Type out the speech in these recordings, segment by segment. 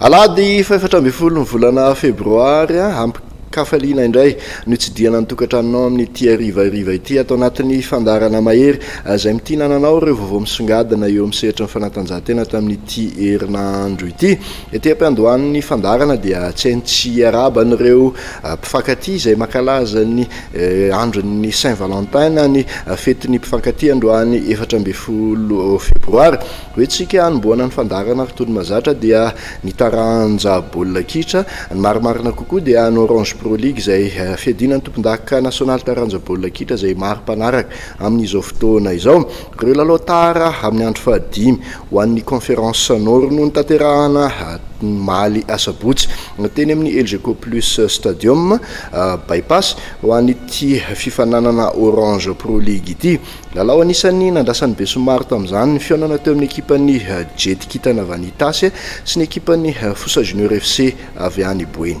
Alahady fahefatra ambin'ny folo ny volana febroary ampikafaliana indray no hitsidihana ny tokantranonao amin'ny ity arivariva ity ato anatin'ny fandarana mahery izay mitia nananao ireo vaovao misongadina eo amin'ny sehatry ny fanatanjahantena tamin'ity herinandro ity Ety am-piandohan'ny fandaharana dia tsy hainy tsy hiarahaba an'ireo mpifankatia izay mankalaza ny andron'ny Saint Valentin na ny fetin'ny mpifankatia androany efatra ambin'ny folo febroary. Ho entintsika hanombohana ny fandaharana ary toy ny mahazatra dia ny taranja baolina kitra. Ny marimarina kokoa dia ny Orange Pro League izay fiadiana ny tompondaka nasionaly taranja baolina kitra izay maro mpanaraka amin'izao fotoana izao. Ireo lalao tara amin'ny andro fahadimy ho an'ny Conference Nord no notanterahana omaly asabotsy teny amin'ny Elgeco Plus Stadium, By-Pass, ho an'ity fifaninanana Orange Pro League ity. Lalao anisan'ny nandrasan'ny besinimaro tamin'izany ny fihaonana teo amin'ny ekipan'ny Jetikintana Vanitas sy ny ekipan'ny Fosa Junior FC avy any Boeny.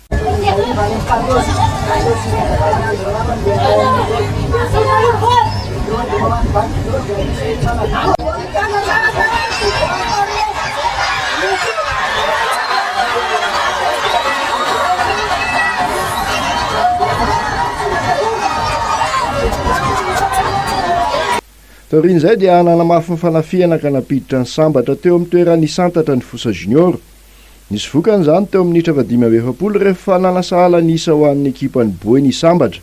Taorian'izay dia nanamafy ny fanafihana ka nampiditra ny sambatra teo amin'ny toeran'ny Santatra ny Fosa Junior. Nisy vokany izany teo amin'ny minitra fahadimy amby efapolo rehefa nana sahala ny isa ho an'ny ekipan'ny Boy ny sambatra.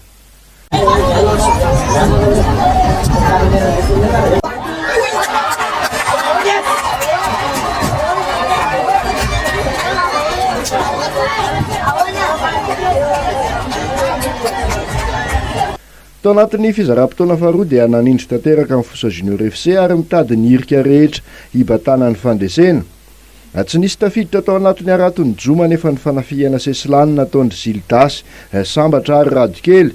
Tao anatin'ny fizaram-potoana faharoa dia nanindry tanteraka ny Fosa Junior FC ary mitady ny hirika rehetra hibatana ny fandresena. Raha tsy nisy tafiditra tao anatin'ny haraton'ny Joma anefa ny fanafihana sesilany nataon-dry Zildasy, Sambatra ary Radokely,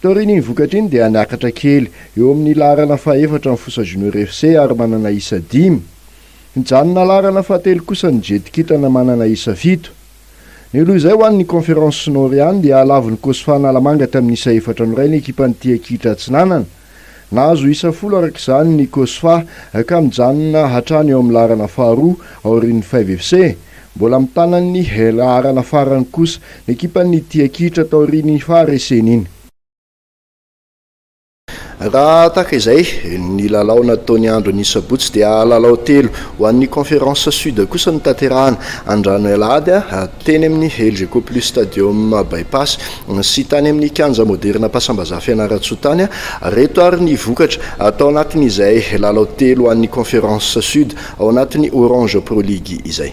Taorian'iny vokatra iny dia niakatra kely eo amin'ny laharana fahefatra ny Fosa Junior FC ary manana isa dimy. Nijanona laharana fahatelo kosa ny Jety Kintana manana isa fito. Ny loha izay ho an'ny Conférence Nord ihany dia halavon'ny Cosfa Analamanga tamin'ny isa efatra no iray ny ekipan'ny Tia Kitra Atsinanana. Nahazo isa folo araka izany ny Cosfa ka mijanona hatrany eo amin'ny laharana faharoa aorian'ny Five FC. Mbola mitana ny laharana farany kosa ny ekipan'ny Tia Kitra taorian'iny fahareseny iny. Raha tahaka izay ny lalao nataon'ny andron'ny sabotsy dia lalao telo ho an'ny Conference Sud kosa no tanterahana andranoy alahady teny amin'ny Elgeco Plus Stadium By-Pass. sy tany amin'ny Kianja Moderina-Pasambazaha Fianarantsoa tany reto ary ny vokatra, tao anatin'izay lalao telo an'ny Conference Sud ao anatin'ny Orange Pro League izay.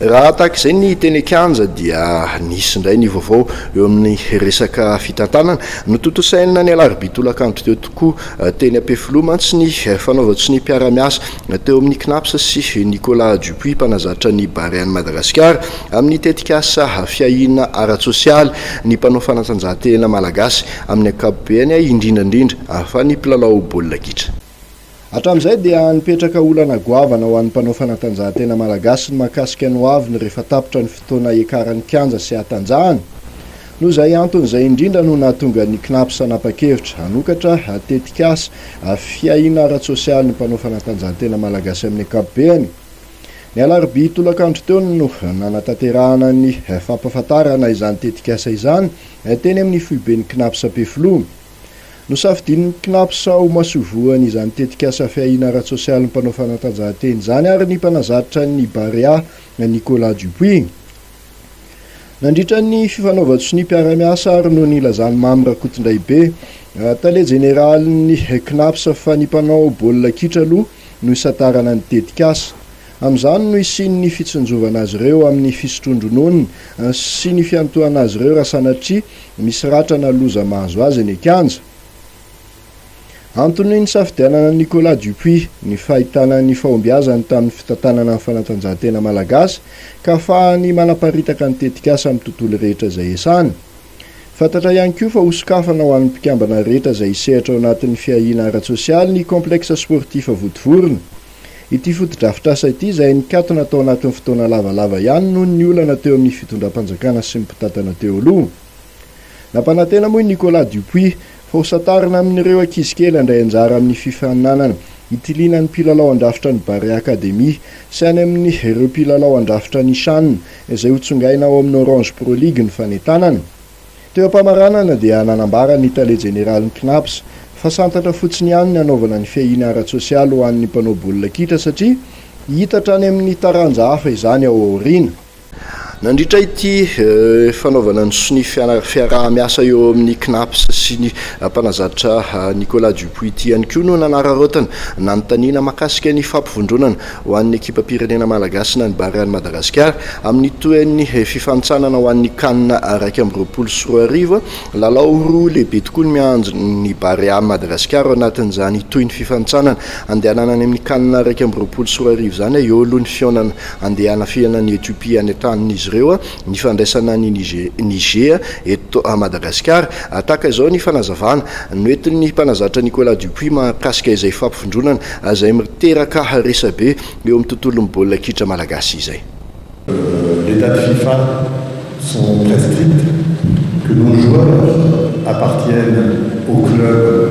Raha tahaka izay ny teny an-kianja dia nisy indray ny vaovao eo amin'ny resaka fitantanana. Notontosaina ny alarobia tolakandro teo tokoa teny Ampefiloha mantsy ny fanaovan-tsonia mpiara-miasa teo amin'ny Cnaps sy Nicolas Dupuis mpanazatra ny Barean'i Madagasikara amin'ny tetikasa fiahiana ara-tsosialy ny mpanao fanatanjahantena malagasy amin'ny ankapobeny indrindrandrindra fa ny mpilalao baolina kitra. Hatramin'izay dia nipetraka olana goavana ho an'ny mpanao fanatanjahantena malagasy ny mahakasika ny hoaviny rehefa tapitra ny fotoana hiakaran'ny kianja sy hatanjahana. Noho izay antony izay indrindra no nahatonga ny Cnaps hanapa-kevitra hanokatra tetikasa fiahiana ara-tsosialy ny mpanao fanatanjahantena malagasy amin'ny ankapobeny. Ny alarobia tolakandro teo no nanatanterahana ny fampahafantarana izany tetikasa izany teny amin'ny foiben'ny Cnaps Ampefiloha. Nosafidian'ny Cnaps ho masoivohony izany tetikasa fiahiana ara-tsosialin'ny mpanao fanatanjahantena izany ary ny mpanazatra ny Barea, Nicolas Dupuis. Nandritra ny fifanaovan-tsonia mpiara-miasa ary no nilazan'i Mamy Rakotondraibe, tale jeneralin'ny Cnaps fa ny mpanao baolina kitra aloha no hisantarana ny tetikasa. Amin'izany no hisian'ny fitsinjovana azy ireo amin'ny fisotroan-dronono sy ny fiantohana azy ireo raha sanatria misy ratra na loza mahazo azy eny an-kianja. Antony nisafidianana an'i Nicolas Dupuis ny fahitana ny fahombiazany tamin'ny fitantanana ny fanatanjahantena malagasy ka afahany manaparitaka ny tetikasa amin'ny tontolo rehetra izay iasany. Fantatra ihany koa fa hosokafana ho an'ny mpikambana rehetra izay hisehatra ao anatin'ny fiahiana ara-tsosialy ny Complexe Sportif Votovorona. Ity fotodrafitrasa ity izay nikatona tao anatin'ny fotoana lavalava ihany noho ny olana teo amin'ny fitondram-panjakana sy ny mpitantana teo aloha. Nampanantena moa i Nicolas Dupuis fa ho santarina amin'ireo ankizy kely handray anjara amin'ny fifaninanana hitiliana ny mpilalao handrafitra ny Barea Academy sy any amin'ny ireo mpilalao handrafitra ny Shan izay hotsongaina ao amin'ny Orange Pro League ny fanentanana. Teo am-pamaranana dia nanambara ny tale jeneralin'ny Cnaps fa santatra fotsiny ihany ny hanaovana ny fiahiana ara-tsosialy ho an'ny mpanao baolina kitra satria hiitatra any amin'ny taranja hafa izany ao aoriana. Nandritra ity fanaovana ny sonia fiaraha-miasa eo amin'ny Cnaps sy ny mpanazatra Nicolas Dupuis ity ihany koa no nanararaotana nanontaniana mahakasika ny fampivondronana Ho an'ny ekipam-pirenena malagasy nanimbary an'i Madagasikara amin'ny tohin'ny fifanintsanana ho an'ny Can iraika amby roapolo sy roa arivo, lalao roa lehibe tokoa no miandry ny Barea Madagasikara ao anatin'izany tohin'ny fifanintsanana andehanana any amin'ny Can iraika amby roapolo sy roa arivo izany. Eo aloha ny fihaonana andeha hanafihana an'i Ethiopia any an-tanin'izy ireo. ny fandraisana an'i Niger eto Madagasikara. Tahaka izao ny fanazavana noentin'ny mpanazatra Nicolas Dupuis mahakasika izay fampivondronana izay miteraka resabe eo amin'ny tontolon'ny baolina kitra malagasy izay. Les dates Fifa sont très strictes que nos joueurs appartiennent au club.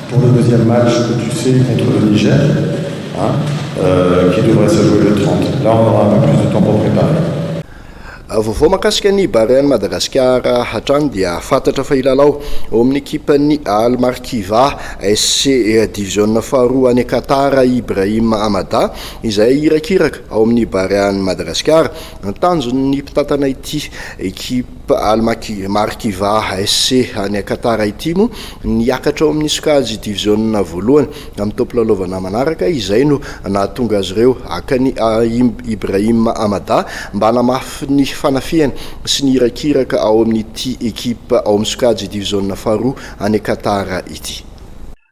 Pour le deuxième match que tu sais contre le Niger hein qui devrait se jouer le 30 là on aura un peu plus de temps pour preparer. Vaovao mahakasika ny Barea-n'i Madagasikara hatrany dia fantatra fa hilalao ao amin'ny ekipan'ny Al Markiva SC diviziona faharoa any Qatar i Ibrahim Amada izay irakiraka ao amin'ny Barea-n'i Madagasikara. Tanjon'ny mpitantana ity ekipa Almaki, Markiva SC any Qatar ity no niakatra ao amin'ny sokajy diviziona voalohany amin'ny taom-pilalaovana manaraka izay no nahatonga azy ireo haka an'i Ibrahim Amada mba hanamafy ny fanafihany sy ny irakiraka ao amin'ity ekipa ao amin'ny sokajy diviziona faharoa any Qatar ity.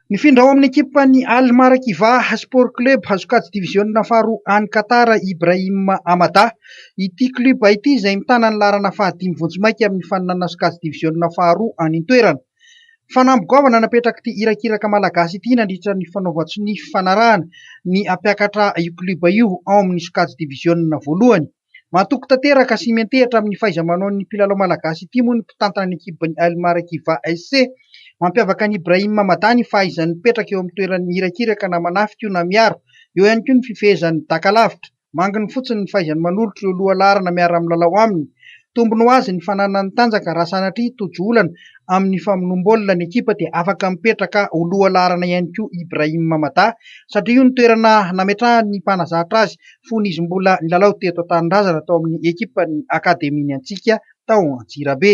Nifindra ao amin'ny ekipan'ny Al Marakivaah Sport Club, sokajy diviziona faharoa any Qatar, i Ibrahim Amada. Ity klioba ity izay mitana ny laharana fahadimy vonjimaika amin'ny faninanana sokajy diviziona faharoa any an-toerana. Fanamby goavana napetrak'ity irakiraka Malagasy ity nandritra ny fanaovan-tsonia fifanarahana ny hampiakatra io klioba io ao amin'ny sokajy diviziona voalohany. Matoky tanteraka sy miantehatra amin'ny fahaiza-manaon'ny mpilalao malagasy ity moa ny mpitantana ny ekipin'ny Al Marakiva SC. Mampiavaka an'i Ibrahim Hamada ny fahaizany mipetraka eo amin'ny toerany irakiraka na manafika io na miaro. Eo ihany koa ny fifehezany daka lavitra. Manginy fotsiny ny fahaizany manolotra ireo lohalaharana miara-milalao aminy. Tombony ho azy ny fananany tanjaka raha sanatria tojo olana amin'ny famonoam-baolina ny ekipa dia afaka mipetraka ho lohalaharana ihany koa Ibrahim Hamada satria io ny toerana nametrahany ny mpanazatra azy fony izy mbola nilalao teto an-tanindrazana tao amin'ny ekipan'ny akademian'ny Antsika tao Antsirabe.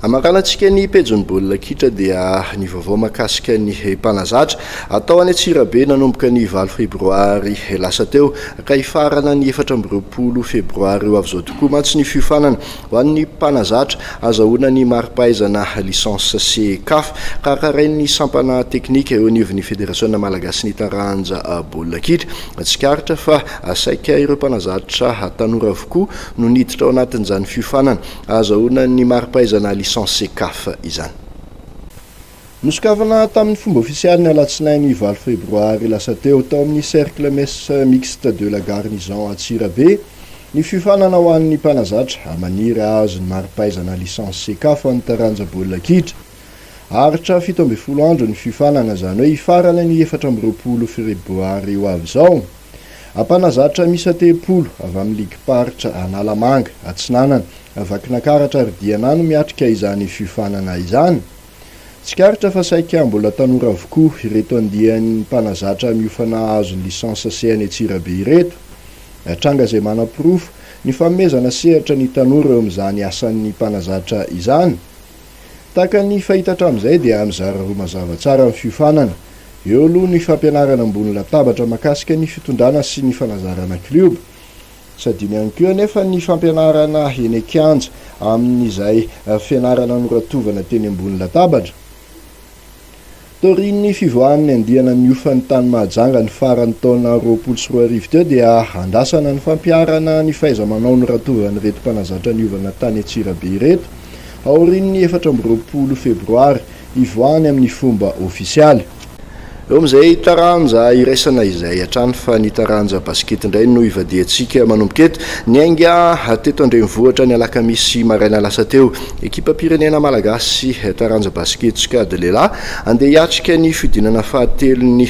Hamakan antsika ny pejin'ny baolina kitra dia ny vaovao mahakasika ny mpanazatra atao any Antsirabe nanomboka ny valo febroary lasa teo ka hifarana ny efatra amby roapolo febroary ho avy izao tokoa mantsy ny fiofanana ho an'ny mpanazatra hazahoana ny mari-pahaizana licence sy caf ka karain'ny sampana teknika eo anivon'ny federasiona malagasin'ny taranja baolina kitra. Tsikaritra fa saika ireo mpanazatra tanora avokoa no niditra ao anatin'izany fiofanana ahazahoana ny mari-pahaizana Licence Cecaf izany. Nosokafana tamin'ny fomba ofisialy ny alatsinainy valo febroary lasa teo, tao amin'ny Cercle Messe Mixte de la Garnison Antsirabe, ny fiofanana ho an'ny mpanazatra maniry hahazo ny mari-pahaizana Licence Cecaf amin'ny taranja baolina kitra. Aharitra fito ambin'ny folo andro ny fiofanana, izany hoe hifarana ny efatra amby roapolo Febroary ho avy izao. Ampanazatra miisa telopolo avy amin'ny ligim-paritra Analamanga, Atsinanana, Vakinankaratra ary Diana no miatrika izany fiofanana izany. Tsikaritra fa saika mbola tanora avokoa ireto andiany mpanazatra miofana hahazo ny licence C any Antsirabe ireto. Tranga izay manaporofo ny fanomezana sehatra ny tanora eo amin'izany asan'ny mpanazatra izany. Tahaka ny fahita hatramin'izay dia mizara roa mazava tsara ny fiofanana. Eo aloha ny fampianarana ambony latabatra mahakasika ny fitondrana sy ny fanazarana klioba. Tsy adino ihany koa anefa ny fampianarana eny an-kianja amin'izay fianarana noratovana teny ambony latabatra. Taorian'ny fivoahan'ny andiana niofa ny tany Mahajanga ny faran'ny taona roapolo sy roa arivo teo dia andrasana ny fampiharana ny fahaiza-manao noratovan'ireto mpanazatra niovana tany Antsirabe ireto aorian'ny efatra amby roapolo febroary hivoahany amin'ny fomba ofisialy. Eo amin'izay taranja iraisana izay hatrany fa ny taranja basikety indray no ivadihantsika manomboka eto. Niainga teto an-drenivohitra ny alakamisy maraina lasa teo Ekipam-pirenena malagasy taranja basiketsika Dlelah andeha hiatrika ny fihodinana fahatelon'ny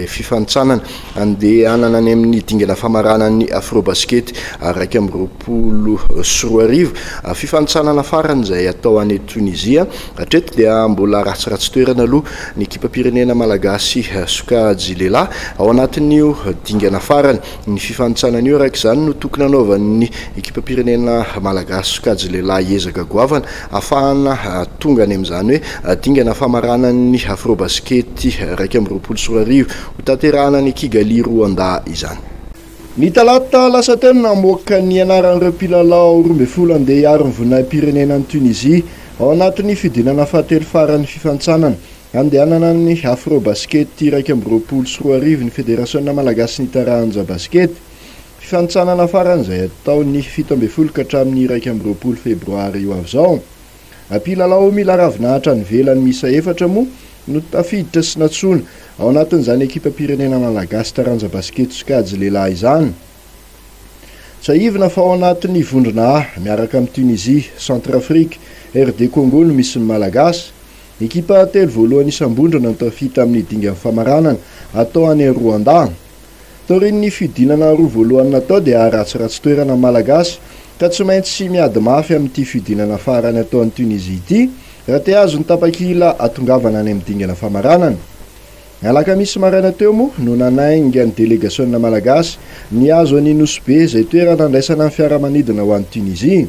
fifanintsanana andehanana any amin'ny dingana famarana ny Afrobasikety iraika amby roapolo sy roa arivo. Fifanintsanana farany izay hatao any Tonizia. Hatreto dia mbola ratsiratsy toerana aloha ny ekipam-pirenena malagasy sokajy lehilahy ao anatin'io dingana farany. Ny fifanintsanana io araka izany no tokony hanaovan'ny ekipam-pirenena malagasy sokajy lehilahy ezaka goavana hahafahana tonga any amin'izany hoe dingana famaranan'ny Afrobasikety iraika amby roapolo sy roa arivo hotanterahana any Kigali, Roanda izany. Ny talata lasa teo no namoaka ny anaran'ireo mpilalao roa ambin'ny folo handeha hiaro ny voninahi-pirenena any Tunisie ao anatin'ny fidinana fahatelo faran'ny fifanintsanana Handehanana ny Afrobasket iraika amby roapolo sy roa arivo ny Federasiona malagasin'ny taranja basikety. Fifanintsanana farany izay hatao ny fito ambin'ny folo ka hatramin'ny iraika amby roapolo febroary ho avy izao. Mpilalao mila ravinahitra any ivelany miisa efatra moa no tafiditra sy nantsoina ao anatin'izany ekipam-pirenena malagasy taranja basikety sokajy lehilahy izany. Tsiahivina fa ao anatin'ny vondrona A miaraka amin'i Tunisie, Centrafrique, RD Congo no misy ny malagasy. Ekipa telo voalohany isam-bondrana no tafita amin'ny dingan'ny famaranana atao any Roandà. Taorian'ny fihodinana roa voalohany natao dia haratsiratsy toerana ny Malagasy ka tsy maintsy miady mafy amin'ity fihodinana farany atao any Tunisie ity raha te hahazo ny tapakila hatongavana any amin'ny dingana famaranana. Ny alakamisy maraina teo moa no nanainga ny delegasionina Malagasy nihazo an'i Nosy Be izay toerana handraisana ny fiaramanidina ho any Tunisie.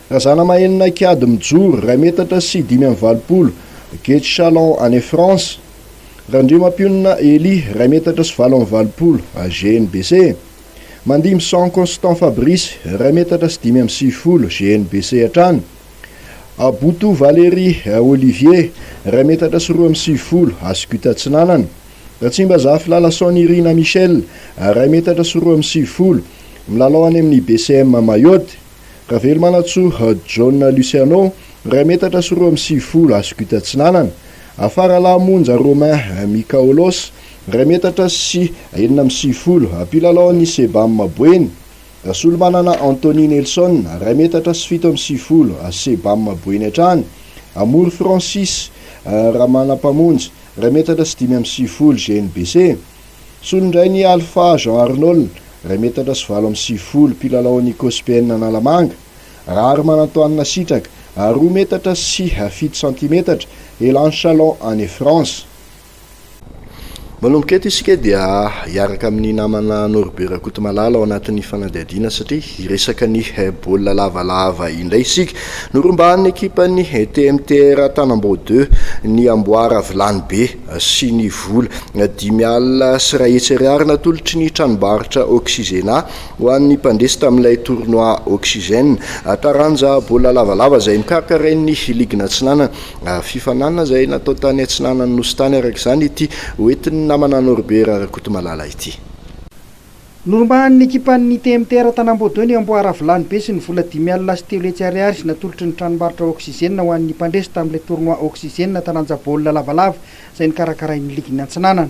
Razanamahenina Kiady Mijoro, iray metatra sy dimy amby valopolo, Gate Chalon any France. Randriamampionona Elie, iray metatra sy valo amby valopolo, GNBC. Mandimson Constant Fabrice, iray metatra sy dimy amby sivifolo, GNBC hatrany. Aboto Valérie Olivier, iray metatra sy roa amby sivifolo, Asgut Atsinanana. Ratsimbazafy Lalason Irina Michelle, iray metatra sy roa amby sivifolo, milalao any amin'ny BCM Mayotte. Ravelomanantsoa John Luciano, iray metatra sy roa amby sivifolo, Ascot Atsinanana, Afaralahy Monja Romain Mikaolos, iray metatra sy enina amby sivifolo, mpilalao ny Sebam Boeny, Rasolomanana Anthony Nelson, iray metatra sy fito amby sivifolo, Sebam Boeny hatrany, Amory Francis Ramanampamonjy, iray metatra sy dimy amby sivifolo, GNBC. Solondrain'i Alpha Jean Arnold, iray metatra sy valo amby sivifolo, mpilalao an'i Cospn Analamanga, Rary Manantoanina Sitraka, ary roa metatra sy fito santimetatra, Elan Chalon any France. Manomboka eto isika dia hiaraka amin'ny namana Norbert Rakotomalala ao anatin'ny fanadihadiana satria hiresaka ny baolina lavalava indray isika. Norombahan'ny ekipan'ny TMTR Tanambao deux ny amboara vilany be. sy ny vola dimy alina sy iray hetsy ariary natolotry ny tranombarotra Oxygena ho an'ny mpandresy tamin'ilay tournoi Oxygène taranja baolina lavalava izay nokarakarain'ny Ligina Atsinanana. Fifaninanana izay natao tany atsinanan'ny Nosy tany araka izany ity hoentin'ny namana Norbert Rakotomalala ity. Norombahan'ny ekipan'ny TMTR Tanamboadoy ny amboaravolahy be sy ny vola dimy alina sy telo hetsy ariary izay natolotry ny tranombarotra Oxygène ho an'ny mpandresy tamin'ilay tournoi Oxygène taranja baolina lavalava izay nokarakarain'ny ligin'ny Antsinanana.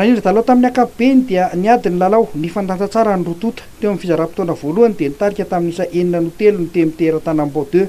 Raha indro dalao tamin'ny ankapobeny dia niady ny lalao, nifandanja tsara ny roa tonta. Teo amin'ny fizaram-potoana voalohany dia nitarika tamin'ny isa enina no telo ny Temy teratana Ambao Deux.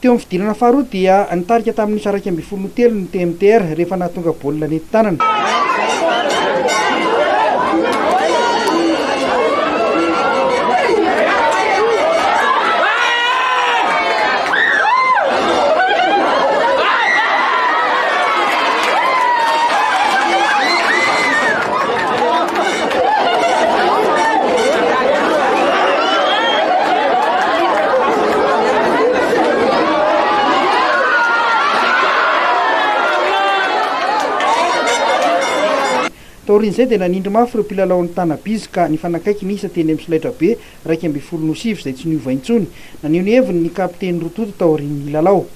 Teo amin'ny fidirana faharoa dia nitarika tamin'ny isa iraika ambin'ny folo no telo ny TMTR rehefa nahatonga baolina nentin-tanana. Taorian'izay dia nanindry mafy ireo mpilalaon'ny Tana-Biz ka nifanakaiky ny isa teny amin'ny solaitrabe iraika ambin'ny folo no sivy izay tsy niova intsony. Naneho ny heviny ny kapiteny Rototo taorian'ny lalao.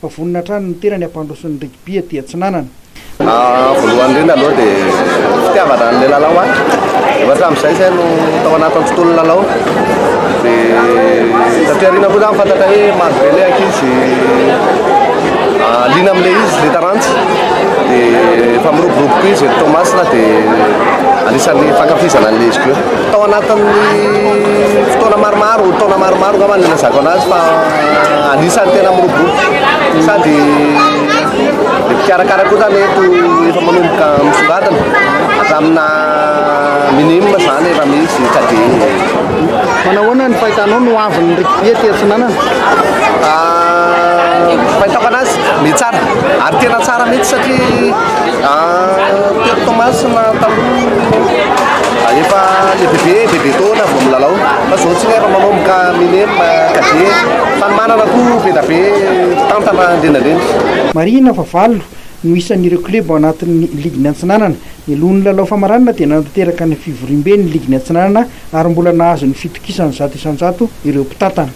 Fa vonona hatrany ny tenany hampandroso ny rugby aty atsinanana. Voalohany indrindra aloha dia fitiavana an'ilay lalao ahy, efa hatramin'izay zay no tao anatin'ny fotoan'ny lalao, dia taty aoriana koa za nifantatra hoe maro be ilay ankizy liana amin'ilay izy, ilay taranja, dia efa miroborobo koa izy eto Toamasina dia anisan'ny fankafizana an'ilay izy koa. Tao anatin'ny fotoana maromaro, taona maromaro angamba nilazako anazy fa anisan'ny tena miroborobo sady ny mpikarakara koa zany eto efa manomboka misongadina hatraminà minime zany efa misy sady Manahoana ny fahitanao no avin'ny rugby aty Atsinanana? Ah, fahitako anazy, mety tsara. Ary tena tsara mihitsy satria Tery Toamasina taloha efa le bebe bebe taona vao milalao fa zao tsy lera manao mka minem cadet fanomanana koa be da be mpitantana indrindrandrindra. Marihina fa valo no isan'ireo club ao anatin'ny ligin'ny Antsinanana. Ny lohan'ny lalao famaranana dia nanatanteraka ny fivoriambe ny ligin'ny Atsinanana ary mbola nahazo ny fitokisany zato isan-jato ireo mpitantana.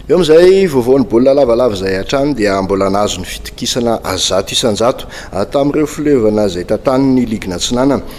Eo amin'izay vaovaon'ny baolina lavalava izay hatrany dia mbola nahazo ny fitokisana zato isan-jato tamin'ireo fileovana izay tantanin'ny Ligina Atsinanana.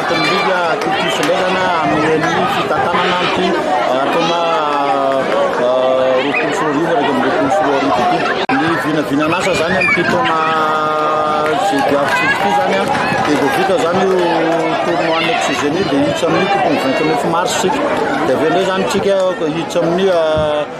Midika akaiky filaizana amin'ny fitantanana ity taona roapolo sy roa arivo iraika amby roapolo sy roa arivo ity. Ny vinavinan'asa izany amin'ity taona diavitrisa ity izany an, dia vao vita izany io tournoi next gen io dia hiditra amin'ny tokony vingt neuf mars isika, dia avy eo indray izany isika hiditra amin'ny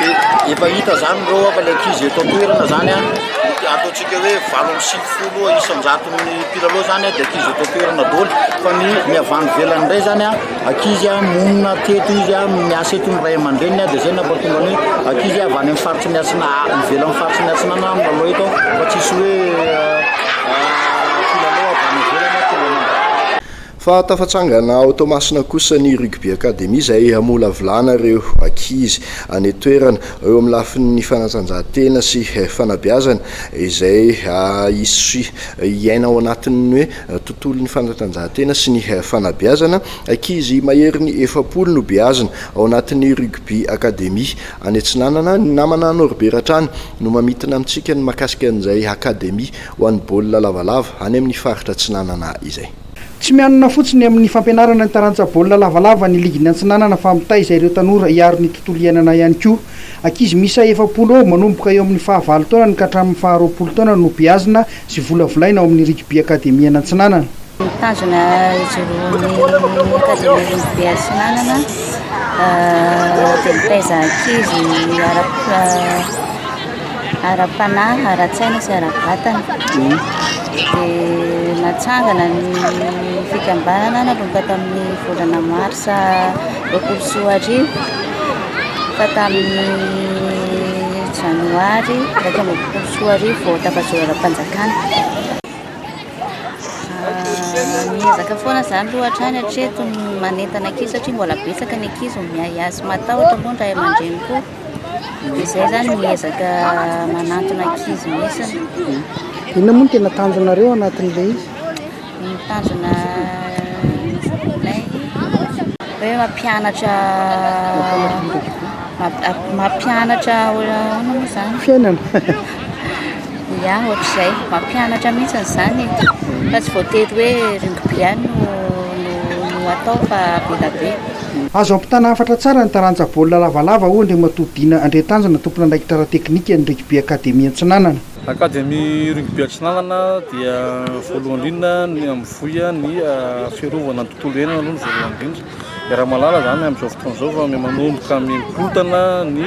dia efa hita izany ireo efa ilay ankizy eto an-toerana izany an, ataontsika hoe valo amby sivifolo isan-jaton'ny mpilalao izany dia ankizy eto an-toerana daholo fa ny ny avy any ivelany indray izany an, ankizy an, monina teto izy an, miasa eto ny ray aman-dreniny dia izay no nampahatonga ny hoe ankizy avy any amin'ny faritry ny atsina ivelan'ny faritry ny atsinanana no milalao eto fa tsisy hoe mpilalao avy any ivelany tonga any an-dafy. Fa tafatsangana ao Toamasina kosa ny Rugby Academy izay hamolavolana ireo ankizy any an-toerana eo amin'ny lafin'ny fanatanjahantena sy fanabeazana izay hisy hiaina ao anatin'ny hoe tontolon'ny fanatanjahantena sy ny fanabeazana. Ankizy maherin'ny efapolo no beazina ao anatin'ny Rugby Academy any Atsinanana. Ny namana Norbert hatrany no mamintina amintsika ny mahakasika an'izay Academy ho an'ny baolina lavalava any amin'ny faritra Atsinanana izay. Tsy mianona fotsiny amin'ny fampianarana ny taranja baolina lavalava ny ligin'ny Antsinanana fa mitaiza ireo tanora hiaro ny tontolo iainana ihany koa. Ankizy miisa efapolo eo manomboka eo amin'ny faha valo taonany ka hatramin'ny faha roapolo taonany no beazina sy volavolaina ao amin'ny Rugby Akademian'Antsinanana. Mitazona izy roa ny Akademia Rugby Antsinanana dia mitaiza ankizy hiara-. ara-panahy, ara-tsaina sy ara-batana. Dia natsangana ny fikambanana nanomboka tamin'ny volana marsa roapolo sy roa arivo ka tamin'ny janoary iraika amby roapolo sy roa arivo vao tafajoro ara-panjakana. Miezaka foana izany aloha hatrany hatreto ny manentana ankizy satria mbola betsaka ny ankizy miahiahy sy matahotra moa ny ray aman-dreny koa. Izay zany ny ezaka manantona ankizy misiny. Inona moa no tena tanjonareo anatin'ilay izy? Ny tanjona ilay hoe mampianatra mampianatra ahoana moa izany? Fiainana. Ia, ohatr'izay. Mampianatra mihitsy izany e. Fa tsy voatery hoe rugby ihany no atao fa be dia be. Azo ampitana hafatra tsara ny taranja baolina lavalava, hoy Andriamatoa Dina Andriantanjona, tompon'andraikitra ara-teknikan'ny Rugby Academy Antsinanana. Academy Rugby Atsinanana dia voalohany indrindra ny mivoy ny fiarovana ny tontolo iainana aloha ny voalohany indrindra. Iaraha-mahalala izany amin'izao fotoana izao fa manomboka mikorontana ny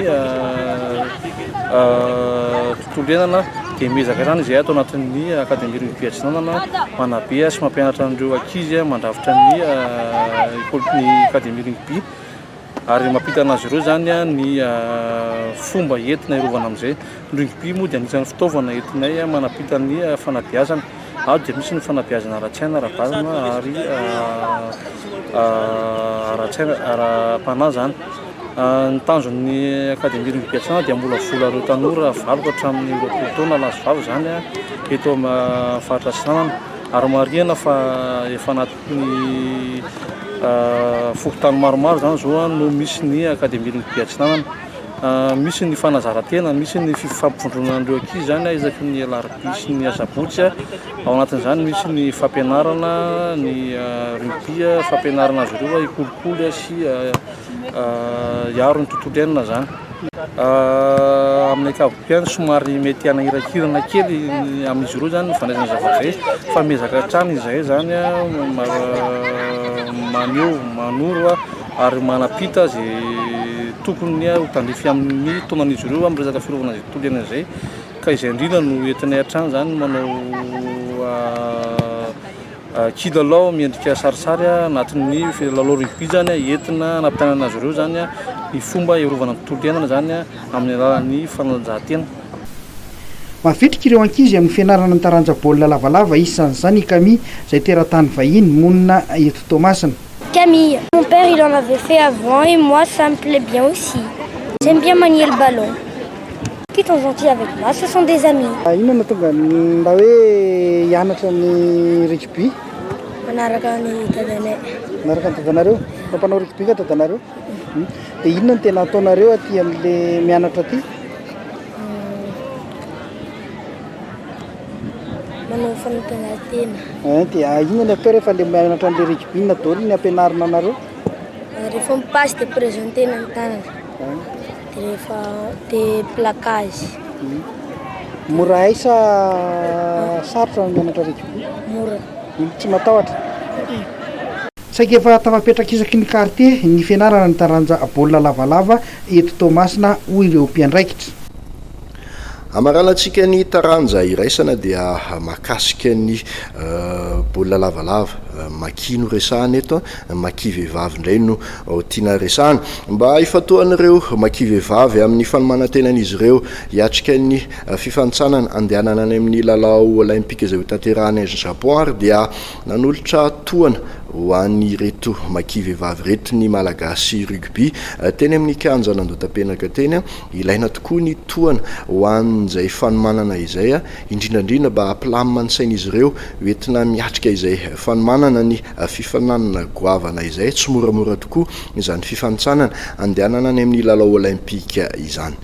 Tondrenana dia miezaka hatrany izahay ato anatin'ny Akademia Rugby Atsinanana manabe sy mampianatra an'ireo ankizy mandrafitra ny ny Akademia Rugby ary mampita an'azy ireo izany ny fomba entina hiarovana amin'izay. Ny rugby moa dia anisan'ny fitaovana entinay manampita ny fanabeazana. Ady dia misy ny fanabeazana ara-tsaina, ara-batana ary ara-tsaina, ara-panahy izany. Ny tanjon'ny Académie Louis Bertrand dia hamolavola ireo tanora valoka hatramin'ny roapolo taona lahy sy vavy izany eto amin'ny faritra Atsinanana ary marihina fa efa anatin'ny fokontany maromaro izany izao no misy ny Académie Louis de Bertrand Atsinanana. Misy ny fanazaran-tena, misy ny fifampivondronana an'ireo ankizy izany isaky ny alarobia sy ny asabotsy. Ao anatin'izany misy ny fampianarana ny rugby, fampianarana azy ireo hikolokolo sy hiaro ny tontolo iainana izany. Amin'ny ankapobeny somary mety hanahirankiranana kely amin'izy ireo izany ny fandraisana zavatra izay fa miezaka hatrany izahay izany maneho, manoro ary manam-pita izay tokony ho tandrify amin'ny taonan'izy ireo amin'ny resaka fiarovana izay tontolo iainana izay ka izay indrindra no entinay hatrany izany ny manao kilalao miendrika sarisary anatin'ny lalao rugby izany entina hanampianana azy ireo izany ny fomba hiarovana ny tontolo iainana izany amin'ny alalan'ny fanatanjahantena. Mavitrika ireo ankizy amin'ny fianarana ny taranja baolina lavalava, isan'izany i Camille izay teratany vahiny, monina eto Toamasina. Camille, mon père il en avait fait avant et moi ça me plait bien aussi. J'aime bien manier le ballon. Qui sont gentils avec moi ce sont des amis. Inona no tonga mba hoe hianatra ny rugby? Manaraka ny dadanay. Manaraka ny dadanareo? Fa mpanao rugby ka dadanareo? Hmm. Dia inona no tena ataonareo aty amin'ilay mianatra aty? manao fanatanjahantena. Eh, dia inona ny atao rehefa ilay mianatra an'ilay rugby na dolo ny ampianarina anareo? Ah, rehefa mipasse dia presentena ny tanana. Eh. Dia rehefa dia plaquage. Hmm. Mora hay sa ah. sarotra ny mianatra rugby? Mora. Hmm, tsy matahotra? Saika efa tafapetraka isaky ny kartie ny fianarana ny taranja baolina lavalava eto Toamasina, hoy ireo mpiandraikitra. Hamaranan-tsika ny taranja iraisana dia mahakasika ny baolina lavalava, Maki no resahana eto, Maki vehivavy indray no tiana resahana. Mba hifantohan'ireo Maki vehivavy amin'ny fanomanan-tenan'izy ireo hiatrika ny fifanintsanana handehanana any amin'ny lalao Olaimpika izay hotanterahana any Japon ary dia nanolotra tohana ho an'ireto Maki vehivavy ireto ny Malagasy Rugby teny amin'ny kianjan'Andohatapenaka teny Ilaina tokoa ny tohana ho an'izay fanomanana izay, indrindrandrindra mba hampilamina ny sain'izy ireo ho entina miatrika izay fanomanana ny fifaninanana goavana izay. Tsy moramora tokoa izany fifanintsanana handehanana any amin'ny lalao Olaimpika izany.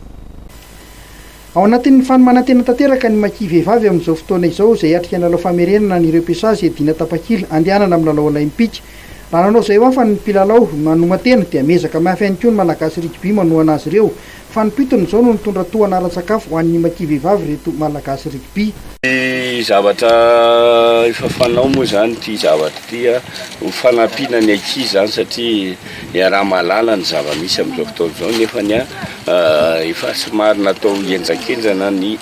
Ao anatin'ny fanomanan-tena tanteraka ny Maki vehivavy amin'izao fotoana izao izay hiatrika ny lalao famerenana an'ireo mpiasazy hiadiana tapakila handehanana amin'ny lalao Olaimpika. Raha nanao izay ho afany ny mpilalao manoman-tena dia miezaka mafy ihany koa ny Malagasy Rugby manohana azy ireo. Fanom-pitony izao no nitondra tohana ara-tsakafo ho an'ny Maki vehivavy ireto Malagasy Rugby. Ny zavatra efa fanao moa izany ity zavatra ity ho fanampiana ny ankizy izany satria iaraha-mahalala ny zava-misy amin'izao fotoana izao nefa efa somary natao henjankenjana ny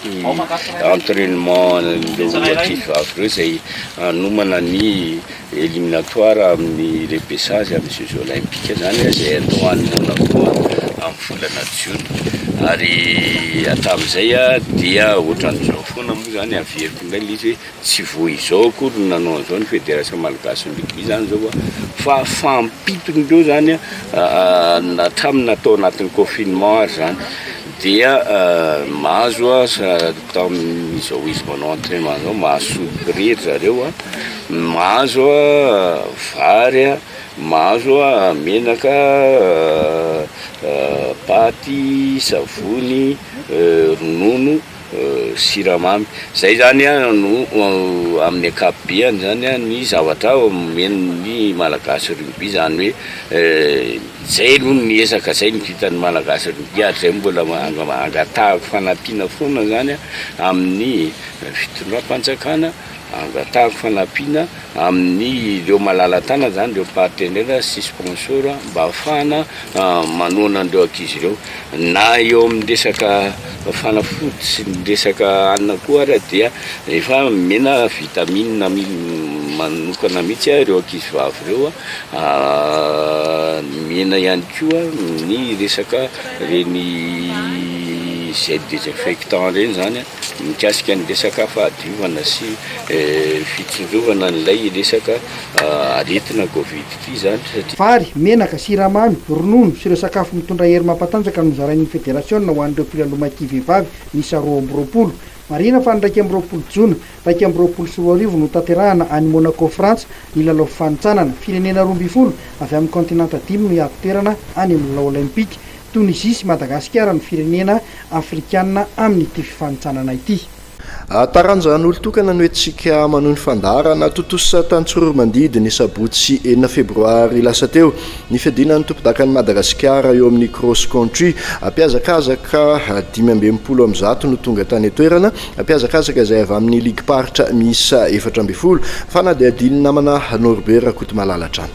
entrainement an'ireo ankizivavy ireo izay hanomana ny Eliminatoires amin'ny repesage amin'ny jeux olympiques izany izay atao any Monaco amin'ny volana jiona ary hatramin'izay dia ohatran'izao foana moa izany averiko indray ilay izy hoe tsy vao izao akory no nanao an'izao ny federation malgasin'ny rugby izany izao an fa fahampiton'ireo izany an hatramin'ny natao anatin'ny confinement ary izany dia mahazo an Atao amin'izao izy manao entrainement izao, mahasoa prix ry zareo a, mahazo vary a, mahazo menaka, paty, savony, ronono, siramamy. Izay izany no amin'ny ankapobeny izany ny zavatra omena ny Malagasy ry oby, izany hoe. Zay aloha ny ezaka zay ny vitan'ny Malagasy aloha dia ary zay mbola angatahako fanampiana foana zany amin'ny fitondram-panjakana, angatahako fanampiana amin'ireo malala-tanana zany ireo partenaire sy sponsor mba ahafahana manohana an'ireo ankizy ireo. Na eo amin'ny resaka fanafody sy ny resaka hanina koa ary dia efa omena vitamine manokana mihitsy ireo ankizivavy ireo Nomena ihany koa ny resaka ireny gel désinfectant ireny izany mikasika ny resaka fahadiovana sy fitsinjovana an'ilay resaka aretina covid ity izany satria. Vary, menaka, siramamy, ronono sy ireo sakafo mitondra hery mampatanjaka no nozarain'ny federasiona ho an'ireo mpilalao maity vehivavy miisa roa amby roapolo. Marihina fa ny iraika amby roapolo jona, Iraika amby roapolo sy roa arivo no tanterahana any Monaco Frantsa ny lalao fifanintsanana. Firenena roa ambin'ny folo avy amin'ny kaontinanta dimy no hiady toerana any amin'ny lalao Olaimpika. Tonizia sy Madagasikara no firenena afrikanina amin'ity fifanintsanana ity. Taranja an'olon-tokana no entintsika manohy ny fandaharana. Tontosa tany Tsororomandidy ny sabotsy enina febroary lasa teo ny fiadiana ny tompodakan'i Madagasikara eo amin'ny Cross Country. Mpiazakazaka dimy amby enimpolo amin'ny zato no tonga tany an-toerana. Mpihazakazaka izay avy amin'ny ligim-paritra miisa efatra ambin'ny folo, fanadihadian'ny namana Norbert Rakotomalala hatrany.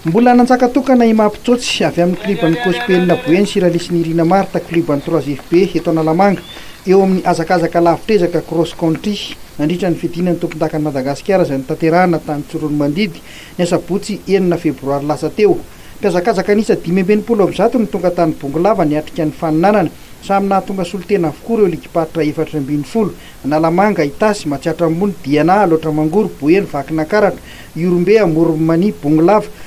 Mbola nanjaka tokana i Mapy Tsotsy avy amin'ny klioban'ny Cospenina Boeny sy Ralisi Nirina Martha, klioban'ny Trois FB eto Analamanga. Eo amin'ny hazakazaka lavitr'ezaka Cross Country, nandritra ny fidinan'ny tompondakan'i Madagasikara izay notanterahina tany Tsiroanomandidy, ny asabotsy enina febroary lasa teo. Mpihazakazaka niisa dimy amby enimpolo amin'ny zato no tonga tany Bongolava niatrika ny faninanana. Samy nahatonga solontena avokoa ireo ligim-paritra efatra ambin'ny folo, Analamanga, Itasy, Matsiatra Ambony, Diana, Alaotra Mangoro, Boeny, Vakinankaratra, Ihorombe, Amoron'i Mania, Bongolava,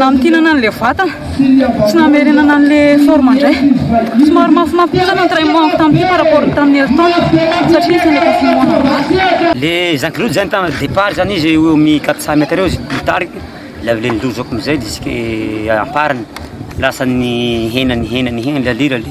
Namintinana an'ilay vatana sy namerenana an'ilay forme indray. Somary mafimafy kosa ny entraînement-ko tamin'ity par rapport ny tamin'ny Elton satria isan'ny efa fimoana an'azy. Le Jean Claude zany tamin'ny départ zany izy eo amin'ny 400 mètres eo izy nitarika, la avy le nilozako amizay jusque amparany, lasa nihena nihena nihena le alira le.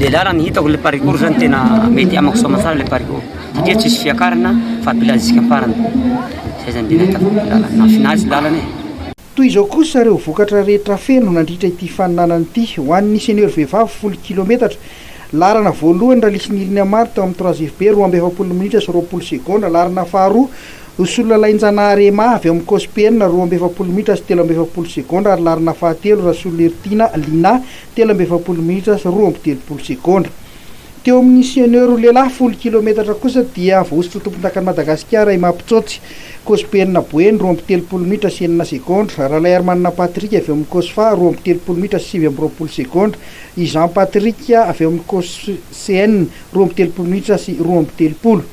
Lehilahy raha ny hitako ilay parikour zany tena mety amako soa aman-tsara ilay parikour satria tsisy fiakarana fa bilazika am-parany. Izay zany dia nahitako ilay lalana, nahafinaritra ilay lalana e. Toy izao kosa ireo vokatra rehetra feno nandritra ity faninanana ity. Ho an'ny senior vehivavy folo kilometatra, laharana voalohany, Ralisy Nirina Mary teo amin'ny Trois FB, roa amby efapolo minitra sy roapolo segondra, laharana faharoa, Rosololalainjanahary Emma avy amin'ny Cosp enina, roa amby efapolo minitra sy telo amby efapolo segondra ary laharana fahatelo, Rasololirytiana Lina, telo amby efapolo minitra sy roa amby telopolo segondra. Teo amin' ny senior roa lehilahy folo kilometatra kosa dia voahosotra ho tompondakan' i Madagasikara i Mapitsotsi Kosibenina Boeny roa amby telopolo minitra sy enina segondra, Ralaiarimanana Patrick avy ao amin' ny Cosfa roa amby telopolo minitra sy sivy amby roapolo segondra, i Jean Patrick avy ao amin' ny Coscn roa amby telopolo minitra sy roa amby telopolo.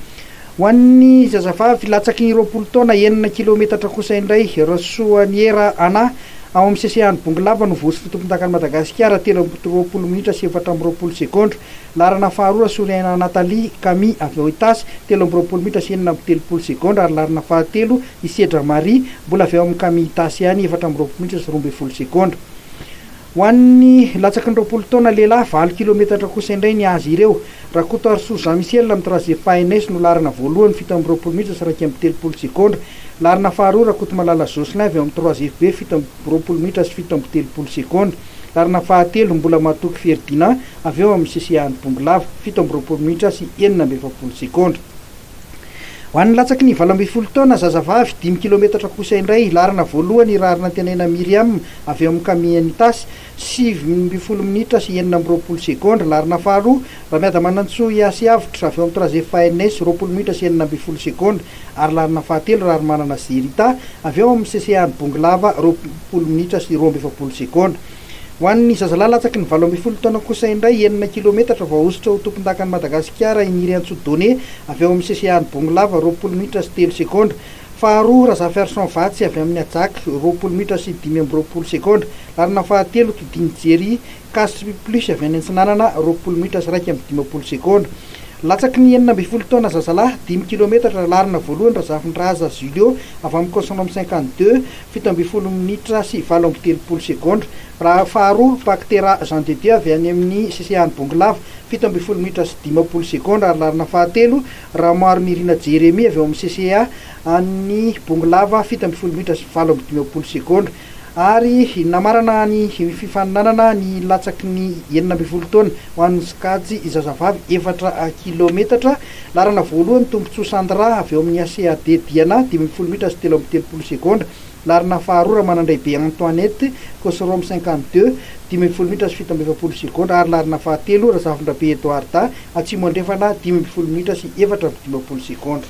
Ho an'ny zazavavy latsaky ny roapolo taona enina kilometatra kosa indray, Rasoaniera Anna, ao amin'ny seseany Bongolava no voatsy ny tompondakan'i Madagasikara, telo amby roapolo minitra sy efatra amby roapolo segondra. Laharana faharoa, Rasoariaina Nathalie Camille avy ao Itasy, telo amby roapolo minitra sy enina amby telopolo segondra ary laharana fahatelo, Isedra Marie, mbola avy ao amin'ny Cami Itasy ihany, efatra amby roapolo minitra sy roa ambin'ny folo segondra. Ho an'ny latsaky ny roapolo taona lehilahy valo kilometatra kosa indray ny azy ireo. Rakotoarisoa Jean Michel amin'ny Trajet Phaenais no laharana voalohany fito amby roapolo minitra sy iraika amby telopolo segondra. Laharana faharoa Rakotomalala Jocelyn avy ao amin'ny Trois FB fito amby roapolo minitra sy fito amby telopolo segondra. Laharana fahatelo Mbolamatoky Ferdinand avy ao amin'ny CCA Anibongolava fito amby roapolo minitra sy enina amby efapolo segondra. Ho an'ny latsaky ny valo ambin'ny folo taona, zazavavy, dimy kilometatra kosa indray hilarina voalohany i Raharinantenaina Myriam avy ao amin'ny Kami Enitas, sivy ambin'ny folo minitra sy enina amby roapolo segondra, larina faharoa, Ramiadamanantsoa Yasy Avotra avy ao amin'ny Trazef ANS, roapolo minitra sy enina ambin'ny folo segondra, ary larina fahatelo, Raharimanana Zerita avy ao amin'ny CCAn Bongolava, roapolo minitra sy roa amby efapolo segondra. Ho an'ny zazalahy latsaky ny valo ambin'ny folo taona kosa indray, enina kilometatra vao ahosotra ho tompondakan'i Madagasikara i Nirintsoa Done avy ao amin'ny CCA-n'i Bongolava, roapolo minitra sy telo segondra. Faharoa, Razafiarison Vatsy avy amin'ny Ajak, roapolo minitra sy dimy amby roapolo segondra. Laharana fahatelo, Kidini Jerry, Casri Plus avy any Antsinanana, roapolo minitra sy iraika amby dimampolo segondra. Latsaky ny enina ambin'ny folo taona zazalahy, dimy kilometatra, laharana voalohany Razafindraza Julio avy amin'ny Consortium cinquante deux, fito ambin'ny folo minitra sy valo amby telopolo segondra, raha faharoa, Paktera Jean de Dieu avy any amin'ny sisehan'i Bongolava, fito ambin'ny folo minitra sy dimampolo segondra, ary laharana fahatelo, Ramoarimirina Jeremie avy ao amin'ny CCA an'ny Bongolava, fito ambin'ny folo minitra sy valo amby dimampolo segondra, ary namarana ny fifaninanana ny latsaky ny enina ambin'ny folo taona ho an'ny sokajy zazavavy efatra kilaometatra. Laharana voalohany, Tombontsoa Sandra avy ao amin'ny ACAD Diana, dimy ambin'ny folo minitra sy telo amby telopolo segondra. Laharana faharoa, Ramanandraibe Antoinette, Cosrom cinquante deux, dimy ambin'ny folo minitra sy fito amby efapolo segondra ary laharana fahatelo, Razafindrabe Edouarda, Atsimo Andrefana, dimy ambin'ny folo minitra sy efatra amby dimampolo segondra.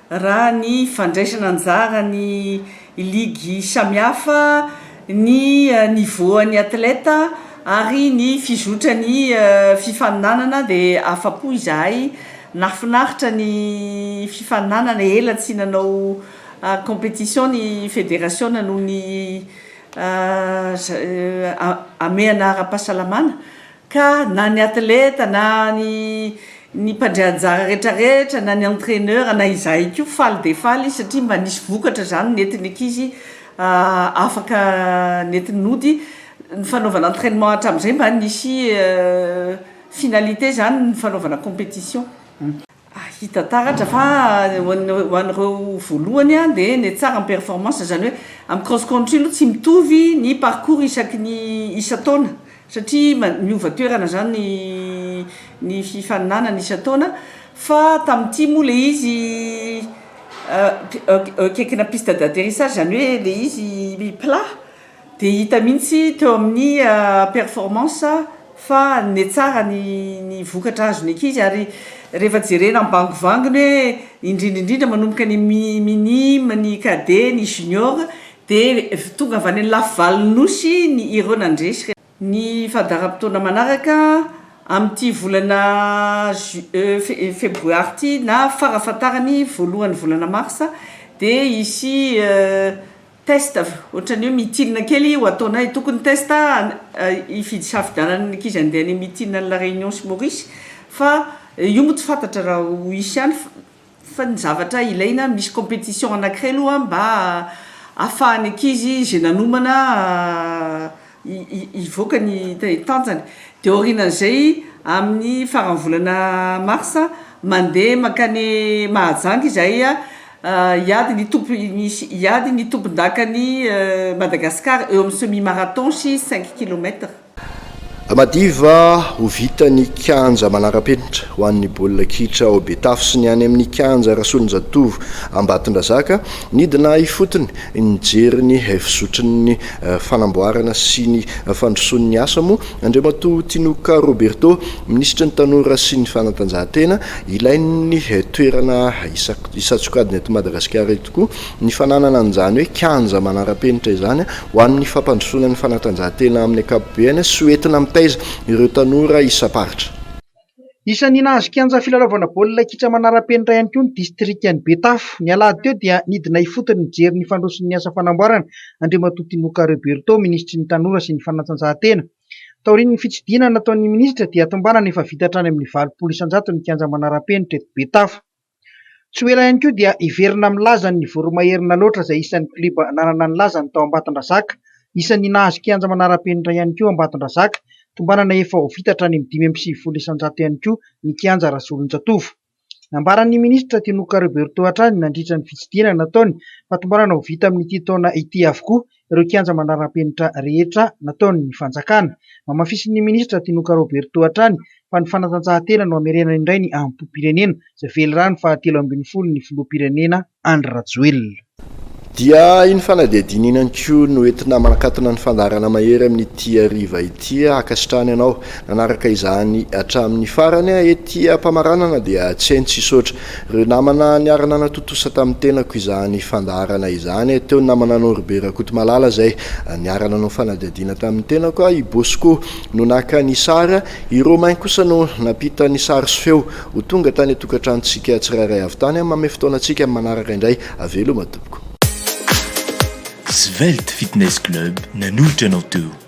raha ny fandraisana anjara ny ligy samihafa, ny niveau-n'ny athlète ary ny fizotran'ny fifaninanana dia afa-po izahay, nahafinaritra ny fifaninanana, ela tsy nanao compétition ny federasiona noho ny hamehana ara-pahasalamana Ka na ny atleta na ny ny mpandray anjara rehetra rehetra na ny entraineur na izahay koa faly dia faly izy satria mba nisy vokatra izany nentin'ny ankizy afaka nentin'ny nody ny fanaovana entrainement hatramin'izay mba nisy finalité izany ny fanaovana competition. hita taratra fa ho an'ireo voalohany dia ny tsara ny performance izany hoe amin'ny cross country aloha tsy mitovy ny parcours isaky ny isan-taona satria miova toerana izany ny fifaninanana isan-taona fa tamin'ity moa ilay izy akaikina piste d'atterissage izany hoe ilay izy plat Dia hita mihitsy teo amin'ny performance fa nanome tsara ny vokatra azo ny ankizy ary rehefa jerena ny bangovangony hoe indrindra indrindra manomboka ny minime, ny cadet, ny junior dia tonga avy any amin'ny lafivalon'ny Nosy ireo nandresy. Ny fandaharam-potoana manaraka, amin'ity volana Ju, fe, febroary ity na farafahatarany voalohan'ny volana marsa dia hisy test ohatran'ny hoe mitinina kely ho ataonay. Tokony test hifidy safidianana ny ankizy handeha any amin'ny mitinina any La Réunion sy Maurice fa io moa tsy fantatra raha ho hisy any fa. Fa ny zavatra ilaina, misy competition anakiray aloha mba ahafahan'ny ankizy izay nanomana hivoaka ny tanjany. Dia aorianan'izay, amin'ny faran'ny volana marsa, mandeha mankany Mahajanga izahay hiady ny tompon- hiady ny tompondakan'i Madagasikara eo amin'ny semi marathon sy cinq kilomètres. Madiva ho vita ny kianja manara-penitra ho an'ny baolina kitra ao Betafo sy ny any amin'ny kianja Rasolonjatovo Ambatondrazaka. Nidina ifotony nijery ny fizotrin'ny fanamboarana sy ny fandrosoan'ny asa moa Andriamatoa Tinoka Roberto, minisitry ny Tanora sy ny fanatanjahantena. Ilain'ny toerana isan-tsokajiny eto Madagasikara tokoa Ny fananana an'izany hoe kianja manara-penitra izany ho an'ny fampandrosoana ny fanatanjahantena amin'ny ankapobeany sy ho entina mitaiza ireo tanora isam-paritra. Isan'ny nahazo kianja filalaovana baolina kitra manara-penitra ihany koa ny distrikan'i Betafo. Ny alahady teo dia nidina ifotony nijery ny fandroson'ny asa fanamboarana Andriamatoa Tinoka Roberto, minisitry ny Tanora sy ny fanatanjahantena. Taorian'ny fitsidihana nataon'ny minisitra dia tombanana efa vita hatrany amin'ny valopolo isan-jato ny kianja manara-penitra eto Betafo. Tsy ho ela ihany koa dia hiverina amin'ny lazany ny Voromaherina Alaotra izay isan'ny klioba nanana ny lazany tao Ambatondrazaka. Isan'ny nahazo kianja manara-penitra ihany koa Ambatondrazaka. Tombanana efa ho vita hatrany amin'ny dimy amby sivifolo isan-jato ihany koa ny kianja Rasolonjatovo. Nambaran'ny minisitra Tinoka Roberto hatrany nandritra ny fitsidihana nataony fa tombanana ho vita amin'ity taona ity avokoa ireo kianja manarapenitra rehetra nataon'ny fanjakana. Namafisin'ny minisitra Tinoka Roberto hatrany fa ny fanatanjahantena no hamerenana indray ny hambom-pirenena izay velirano fahatelo ambin'ny folo ny filoham-pirenena Andry Rajoelina. Dia iny fanadihadiana iny ihany koa no entina manakatona ny fandaharana mahery amin'ity hariva ity. Ankasitrahana ianao nanaraka izany hatramin'ny farany. Ety am-pamaranana dia tsy hay ny tsy hisaotra Ireo namana niara-nanatontosa tamin'ny tenako izany fandaharana izany, teo ny namananao Robe Rakotomalala izay niara-nanao fanadihadiana tamin'ny tenako, i Bosco no naka ny sary, i Romain kosa no nampita ny sary sy feo ho tonga tany an-tokantranontsika tsirairay avy tany. Manome fotoana antsika amin'ny manaraka indray veloma tompoko. Svelte Fitness Club nanolotra anao teo.